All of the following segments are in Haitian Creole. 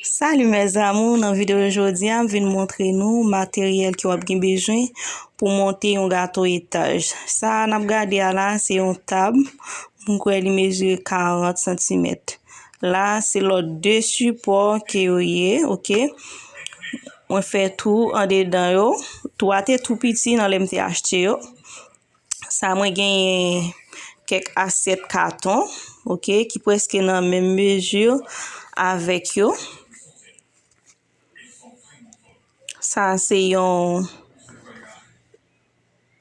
Salut mes amours, nan videyo jodi a m vin montre nou materyèl ki wap gen bezwen pou monte yon gato etaj. Sa a nap gade a la se yon tab, m kwè li mezire 40 santimèt. La se lòt 2 sipò ke yo ye, ok. Mwen fè tou andedan yo, tou a te tou piti nan lè m te achte yo. Sa mwen genyen kèk asyèt katon, ok, ki preske nan menm mezi avèk yo. Sa se yon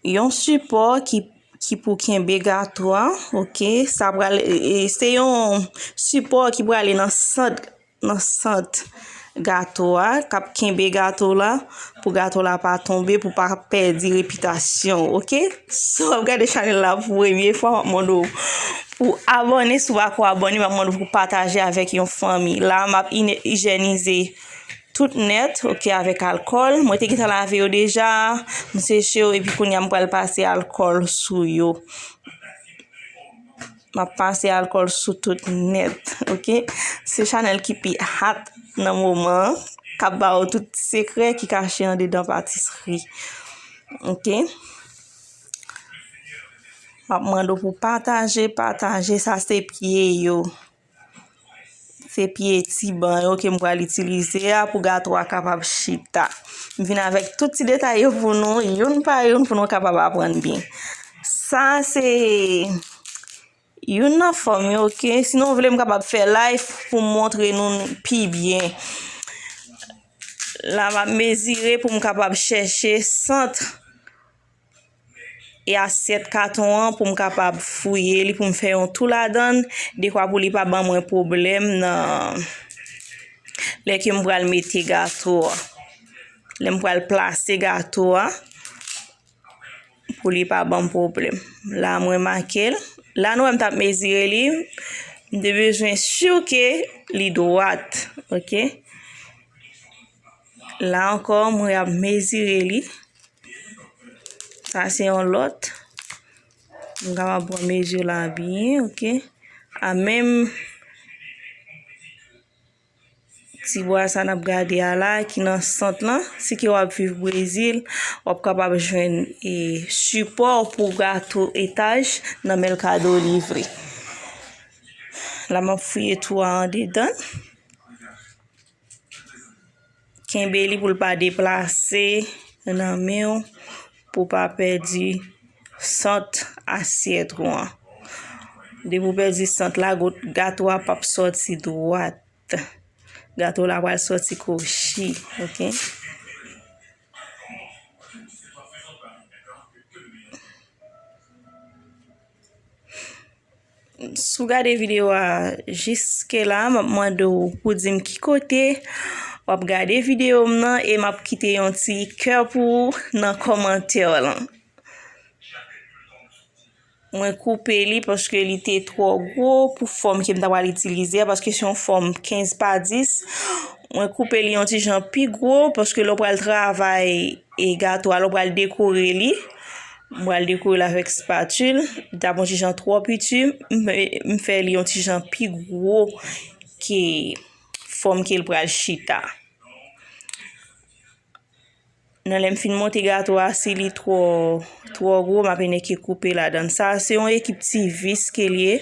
yon sipò ki ki pou kenbe gato a, ok. Sa pral e se yon sipò ki prale nan sant. nan sant gato a kap kenbe gato la pou gato la pa tonbe pou pa pèdi repitasyon w ok si wap gade chanèl la pou premye fwa map mande w pou abòne si w pako abòne map mande w pou pataje avèk yon fanmi la map ijènize tout nèt ok avèk alkòl mwen te gentan lave yo deja m seche yo epi kounya m pral pase alkòl sou yo. Map pase alcool sou tout net ok se chanel ki pi hat nan moman an kap ba ou tout sekrè ki kache andedan patisri ok map mande w pou pataje pataje sa se pye yo. Se pye ti ban yo ke m pral itilize a pou gato a kapab chita. M vin avèk tout ti detay yo pou nou, youn pa youn pou nou kapab aprann byen. Sa se youn nan fòm yo ke si nou vle m kapab fè live pou m montre nou pi byen. La m ap mezire pou m kapab chèche sant. e asyèt katon an pou m kapab fouye li pou m fè yon tou ladan l dekwa pou li pa ban mwen pwoblèm nan lè ke m pral mete gato a lè m pral plase gato a pou li pa ban m pwoblèm la mwen make l la nou wè m t ap mezire li m te bezwen siw ke li dwat ok La ankò mwen ap mezire li. Sa se yon lòt. Mwen kapab pran mezi la byen, ok. A menm ti bwa sa n ap gade a la ki nan sant lan. Si ke w ap viv Brezil, w ap kapab jwenn e sipò pou gato etaj nan Mèlkado Livre. La m ap fouye tou a andedan. Kenbe li pou l pa deplase nan men w pou pa pèdi sant asyèt ou an. Depi ou pèdi sant la, gato a pap sòti dwat. Gato la pral sòti kwochi, ok? Si w gade videyo a jiske la, m ap mande w pou w di m ki kote w ap gade videyo m nan e m ap kite yon ti kè pou ou nan kòmantè w lan. Mwen koupe li paske li te twò gwo pou fòm ke m ta pral itilize a paske se yon fòm 15 pa 10. Mwen koupe li yon ti jan pi gwo paske lè w pral travay. E gato a la ou pral dekore li. M pral dekore l avèk spatul. Li ta bon ti jan twò piti. M fè li yon ti jan pi gwo ke fòm ke l pral chita. Nan lè m fin monte gato a si li twò twò gwo m ap eneke koupe ladann. Sa a se yon ekip ti vis ke l ye.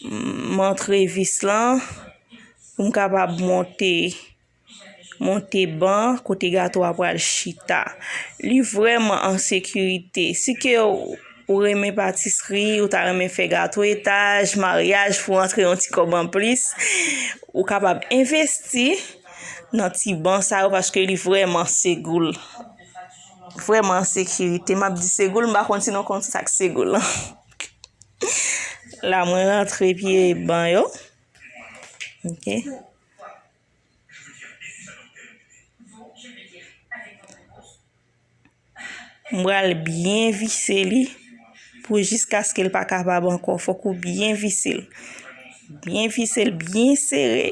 M antre vis lan pou m kapab monte. Monte ban kote gato a pral chita. Li vrèman an sekirite. Si ke ou renmen patisri, ou ta renmen fè gato etaj, maryaj pou antre yon ti kòb an plis, ou kapab envesti nan ti ban sa yo paske li vrèman segoul. Vrèman an sekirite. M ap di segoul, m pa konn si nou konn sa k segoul lan. La mwen rantre pye ban yo. Ok. M pral byen vise li pou jiskaske l pa kapab ankò. Fòk ou byen vise l. Byen vise l, byen sere.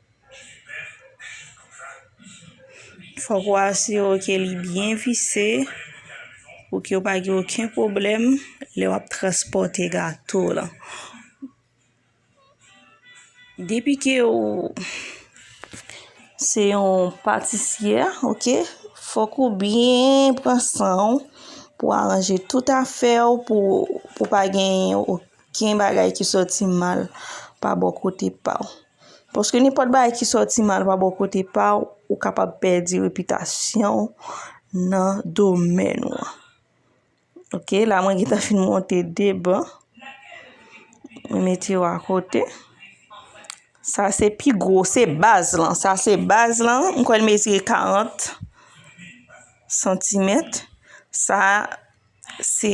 Fòk ou asire w ke li byen vise pou ke w pa gen oken pwoblèm lè w ap transpòte gato w lan. Depi ke ou se yon patisyè, ok, fòk ou byen pran san ou pou w aranje tout afè ou pou pa gen oken bagay ki soti mal pa bò kote pa w. Paske nenpòt bagay ki sòti mal pa bò kote pa w, ou kapab pèdi repitasyon w nan domèn ou an. Ok, la mwen gentan fin monte 2 ban. Mwen mete yo a kote. Sa se pi gwo, se baz lan. Sa se baz lan, mwen kwè l mezire 40 santimèt. Sa. Se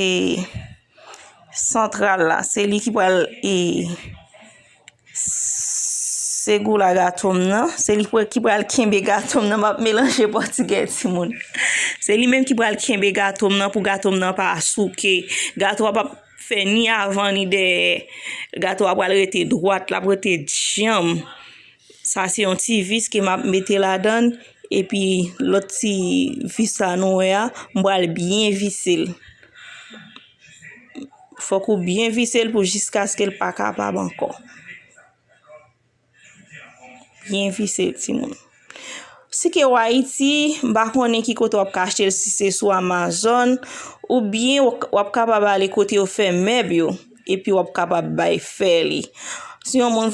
santral la, se li ki pral e se gou la gato m nan, se li ki pral kenbe gato m nan, m ap melanje pòtigè ti moun. Se li menm ki pral kenbe gato m nan pou gato m nan pa souke. Gato a pap fè ni avan ni dèyè. Gato a pral rete dwat, l ap rete djanm. Sa se yon ti vis ke map mete ladann epi lòt ti vis sa nou wè a m pral byen visel fòk ou byen visel pou jiskaskel pa kapab ankò byen visel timoun si ke w ayiti m pa konnen ki kote wap ka achtel si se sou amazòn oubyen wap kapab ale kote yo fè mèb yo epi wap kapab bay fè li si yon moun vle